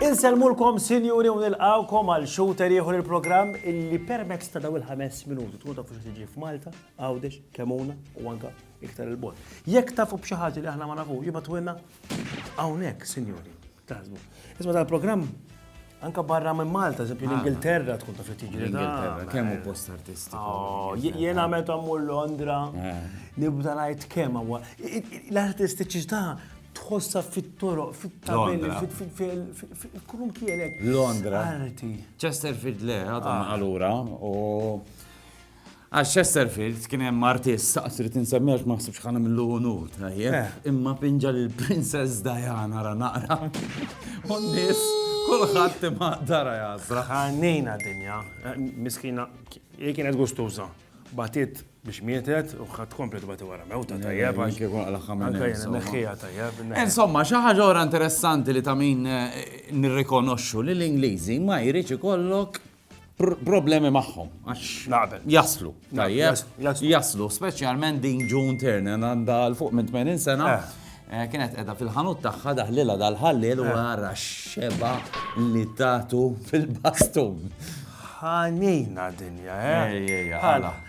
Insellmulkom sinjuri u nilqgħukom għal xhur ieħor il-programm illi permezz ta' dawn il-ħames minuti tkun tafu xi tiġi f'Malta, Għawdex, Kemuna u anke iktar il-bot. Jekk tafu b'xi ħaġa li aħna ma nafu, jibgħatulna hawnhekk, sinjuri. Taħsbu. Isma tal-programm Anka barra minn Malta, eżempju ah. l-Ingilterra tkun ta' fittiġi. L-Ingilterra, kemm hu post artisti. Oh, Jena meta mmur Londra, eh. nibda ngħid kemm huwa. L-artistiċità tħossa fit-toroq, fit-tabelli, fil-kurum kienek. Londra. Arti. Chesterfield le, għadhom ah. allura, u Għal Chesterfield kien hemm artist saqs li tinsemmi għax ma ħsibx ħana millu unur tajjeb, eh. imma pinġa lil Princess Diana ra naqra. U nies kulħadd imma dara jasra. Ħannejna dinja, eh, miskina, hi kienet gustuża. Batit biex mietet u ħadd komplet bati wara mewta eh, tajjeb. Anke kun għal ħamna. tajjeb. Insomma, xi ħaġa ora interessanti li ta' min nirrikonoxxu li l-Ingliżi ma jridx ikollok problemi magħhom. Jaslu. Jaslu, speċjalment din June Turner għandha l-fuq minn 80 sena. Eh. Eh, kienet edha fil-ħanut tagħha daħlilha dal-ħallil u eh. għara xeba li tatu fil-bastun. Ħanina dinja, eh? Ejja, ħala.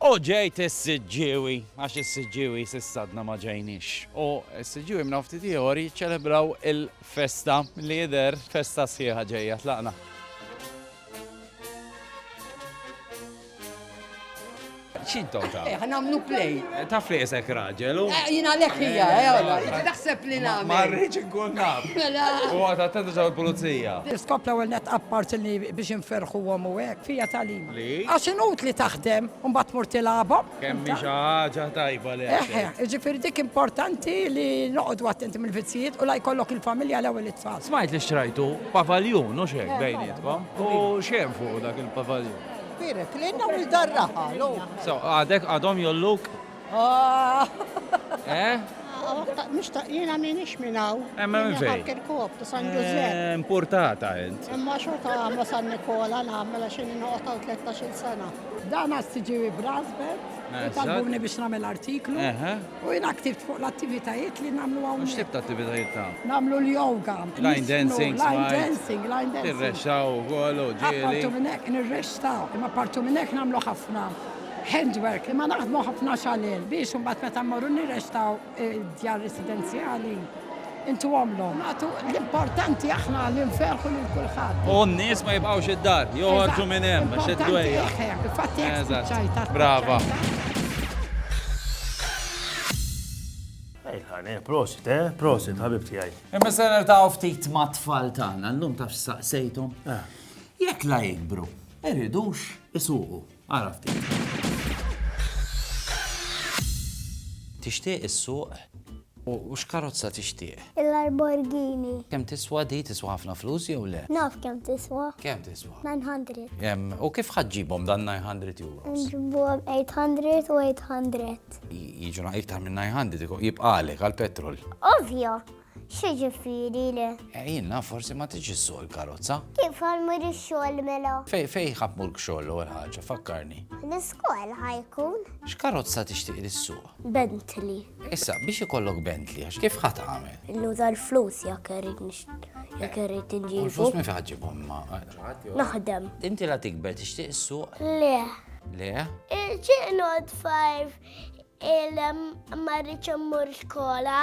U ġejt is-Siġġiewi, għax is-Siġġiewi s'issa għadna ma ġejniex. U s-Siġġiewi minn hawn ftit ieħor jiċċelebraw il-festa, milli jidher festa sħiħa ġejja. Tlaqna. X'intom taf? Eh, ħanamlu play. Eh, taf li jesek raġel u. Eh, jina lek hija, eh, taħseb li nagħmel. Ma rridx inkun naf. Mela. U għad attendu ġew il-pulizija. Skop l-ewwel net appart li biex inferħuhom u hekk fija tal-li. Għax inutli taħdem u mbagħad tmur tilgħabhom. Kemm hi xi ħaġa tajba li qed tgħid. Eħe, jiġifieri dik importanti li noqogħdu attenti mill-vizzijiet u la jkollok il-familja l-ewwel it-tfal. Smajt li xtrajtu pavaljun, hux hekk, bejnietkom? U x'hemm fuqu dak il-pavaljun? Kbir hekk, li jnawl dar-raħal, hu. So, għadek għadhom jgħolluk? Eh? Mux ta' jena minix minnaw. Emma minn fej. Kirkop, ta' San Giuseppe. Eh, importata int. Imma xorta għamma San Nikola namela xin noqtaw 13 sena. Dan għastiġi Brasbet, eh, tal-buni biex namel artiklu. U jena ktibt fuq l-attivitajiet li namlu għaw. Mux tibta attivitajiet ta' Namlu l-yoga. Line dancing. Line dancing, line dancing. Tirrexxaw, għolu, ġili. Partu minnek, nirrexxaw. Imma partu minnek namlu ħafna. handwork li ma naħdmu ħafna xalel biex imbagħad meta mmorru nirrextaw id-djar residenzjali intu għomlhom. Għatu l-importanti aħna li nferħu lil kulħadd. U n-nies ma jibqgħux id-dar, joħorġu minn hemm għax id-dwejja. Fatti hekk spiċċajta. Brava. Ejħane, prosit, eh? Prosit, ħabib tiegħi. Imma se nertaw ftit ma' tfal tagħna, llum taf saqsejthom. Jekk la jikbru, iridux isuqu. Ara ftit. Tixtieq issuq? U x'karozza tixtieq? Il-Lamborghini. Kemm tiswa di? Tiswa ħafna flus jew le? Naf kemm tiswa. Kemm tiswa? 900. Em, u kif ħadd ġibhom dan 900 euros? Nġibuhom 800 u 800. J- Jiġuna iktar minn 900 ikun jibqalek għall-petrol. Ovvjo, X'jiġifieri le? Eh, jien naf forsi ma tiġi s-suq il-karozza. Kif għal mur ix-xogħol mela? Fej fej ħadd mur xogħol l-ewwel ħaġa, fakkarni. L-iskol ħajkun? X'karozza tixtieq li s-suq? Bentley. Issa, biex ikollok Bentley, għax kif ħadd għamel? Nuża l-flus jekk irrid jekk irrid inġibu. L-flus minn fejn ħaġibhom ma. Naħdem. Inti la tikber tixtieq is-suq? Le. Le? Il-ġiqnod fajf il-marriċ immur skola.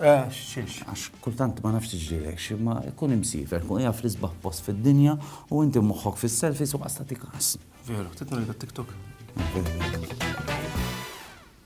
Eh, xiex. Għax kultant ma nafx ġilek, xie ma kun imsifer, kun jaf li sbaħ post fil-dinja u inti moħħok fil-selfies u għasta tikas. Veru, titnu li t-tiktok.